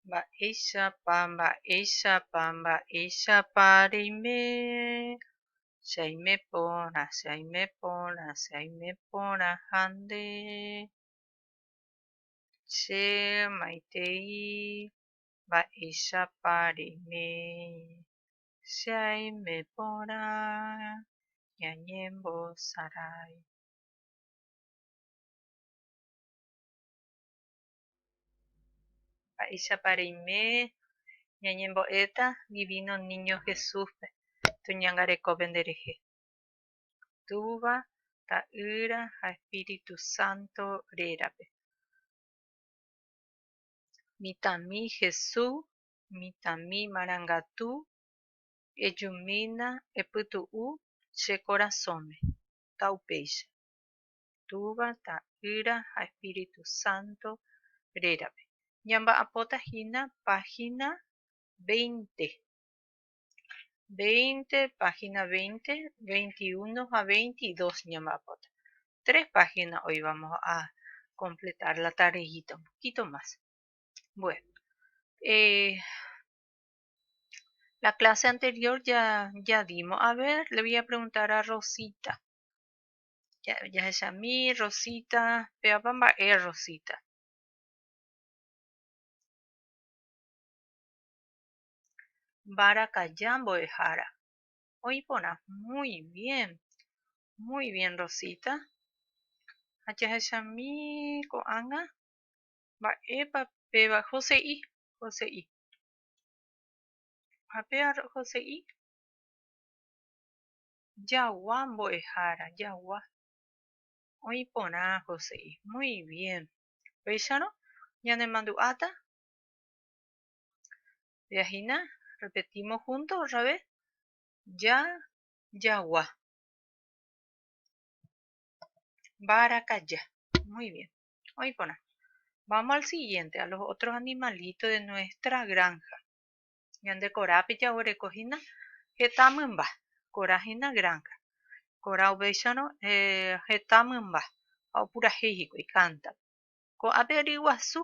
Mba'éichapa, mba'éichapa, mba'éichapa reime che aime porã, che aime porã, che aime porã ha nde che maitei mba'éichapa reime che aime porã ñañembosarái. Mba'éichapa reime ñañembo'éta Divino Niño Jesúspe toñangarekópe nderehe? Túva, Ta'ýra ha Espíritu Santo rérape. Mitãmi Jesús, mitãmi marangatu, ejumína epytu'u che korasõme, ta upéicha. Túva, Ta'ýra ha Espíritu Santo rérape. Ñamba'apóta hína página veinte, veinte, página veinte, veinti uno ha veinti dos ñamba'apóta. Tres página hoy vamos a completar la tardejita, un poquito más. Bueno, eh, la clase anterior ya, ya dimos. A ver, le voy a preguntar a Rosita. jahechami Rosita, pévapa mba'e Rosita. Mbarakaja mbo'ehára, oĩ porã muy bien, muy bien Rosita. Ha jahechami ko'ág̃a mba'épa péva Jose'i, Jose'i. Ha péva Jose'i. Jagua mbo'ehára, jagua. Oĩ porã Joséi. Muy bien. Upéicharõ ñanemandu'áta via hína, repetimos junto otra vez, ja, jagua. Mbarakaja. Muy bien. Oĩ porã. Vamos al siguiente, a los otros animalitos de nuestra granja. Ñande korápe jaguereko hína heta mymba, korã hína granja, korã ovécharõ heta mymba ha opurahéi hikuái kántaro. Ko'ápe ryguasu.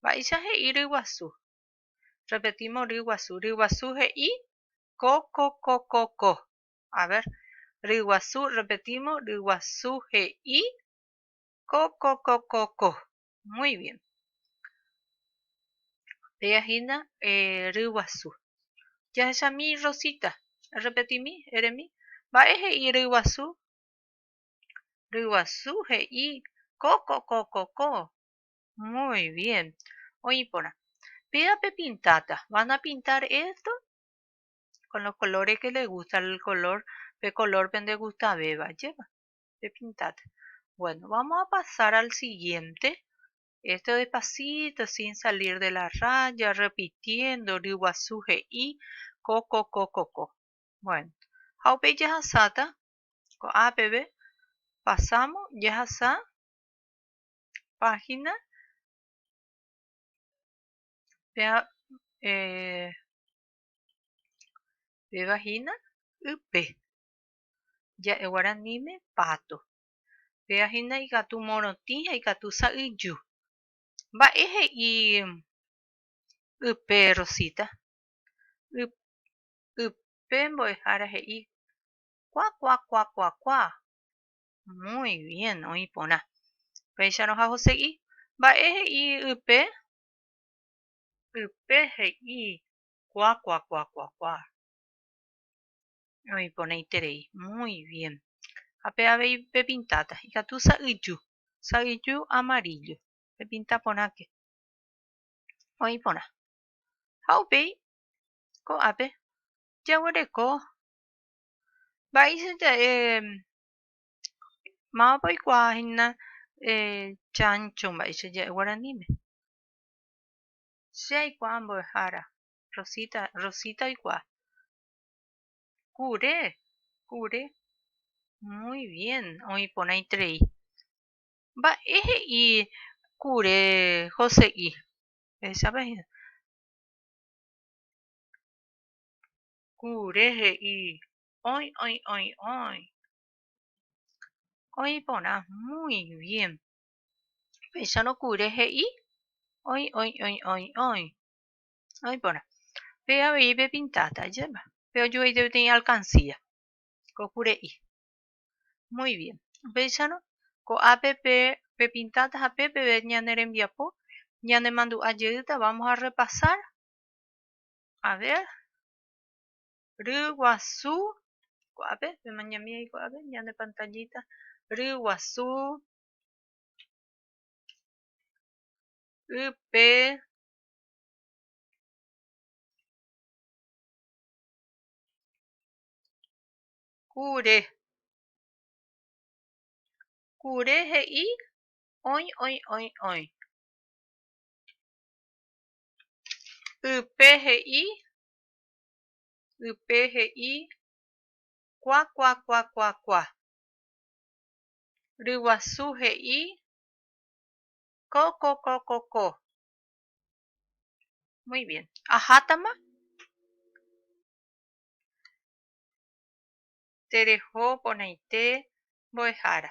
Mba'éicha he'i ryguasu? Repetímo ryguasu. Ryguasu he'i ko, ko, ko, ko, ko. A ver, ryguasu, repetímo, ryguasu he'i ko, ko, ko, ko, ko. Muy bien. Péa hína eh, ryguasu. Jahechami Rosita. Errepetimi, eremi. Mba'e he'i ryguasu? Ryguasu he'i ko, ko, ko, ko, ko. Muy bien. Oĩ porã. Péa pepintáta. Van a pintar esto con los colores que les gusta el color, pe color pendegustavéva, jépy. pepintáta. Bueno, vamos a pasar al siguiente. Esto despacito, sin salir de la raya, repitiendo, ryguasu he'i, ko, ko, ko, ko, ko. Bueno, ha upéi jahasáta, ko'á peve, pasamos, jahasa, página, pea, eh, pevahína, ype. ja'e guaraníme páto. Péva hína ikatu morotĩ ha ikatu sa'yju. Mba'e he'i ype Rosita? Ype mbo'ehára he'i kuakuakuakuakua. Muy bien, oĩ porã. Upéicharõ ha hose'i, Mba'e he'i ype? Ype he'i kuakuakuakuakua. Oĩporãiterei. Muy bien. Ha pe avei pepintáta. Ikatu sa'yju. Sa'yju amarillo. Pepinta porãke. Oĩ porã. Ha upéi ko'ápe jaguereko mba'éicha ja'e mávapa oikuaa hína chancho mba'éicha ja'e guaraníme. Che aikuaa mbo'ehára. Rosita, Rosita oikuaa. Kure, kure. Muy bien, oĩ porãiterei. Mba'e he'i kure Jose'i? Ehechape hína. Kure he'i oĩ, oĩ, oĩ, oĩ. Oĩ porã, muy bien. Péicharõ kure he'i oĩ, oĩ, oĩ, oĩ, oĩ. No iporã. Pe avei pepintáta ajépa. Pe ojo'eite peteĩ alkansía. Ko kure'i. Muy bien. Upéicharõ, ko'ápe pe pepintáta ha pe peve ñane rembiapo ñanemandu'a jeýta vamos a repasar. A ver. Ryguasu. Ko'ápe, pemañami ahí ko'ápe, ñane pantallita. Ryguasu. Ype. Kure. Kure he'i oĩ oĩ oĩ oĩ. Ype he'i ype he'i kua kua kua kua kua. Ryguasu he'i ko ko ko ko ko. Muy bien. Ajátama. Tereho poneite mbo'ehára.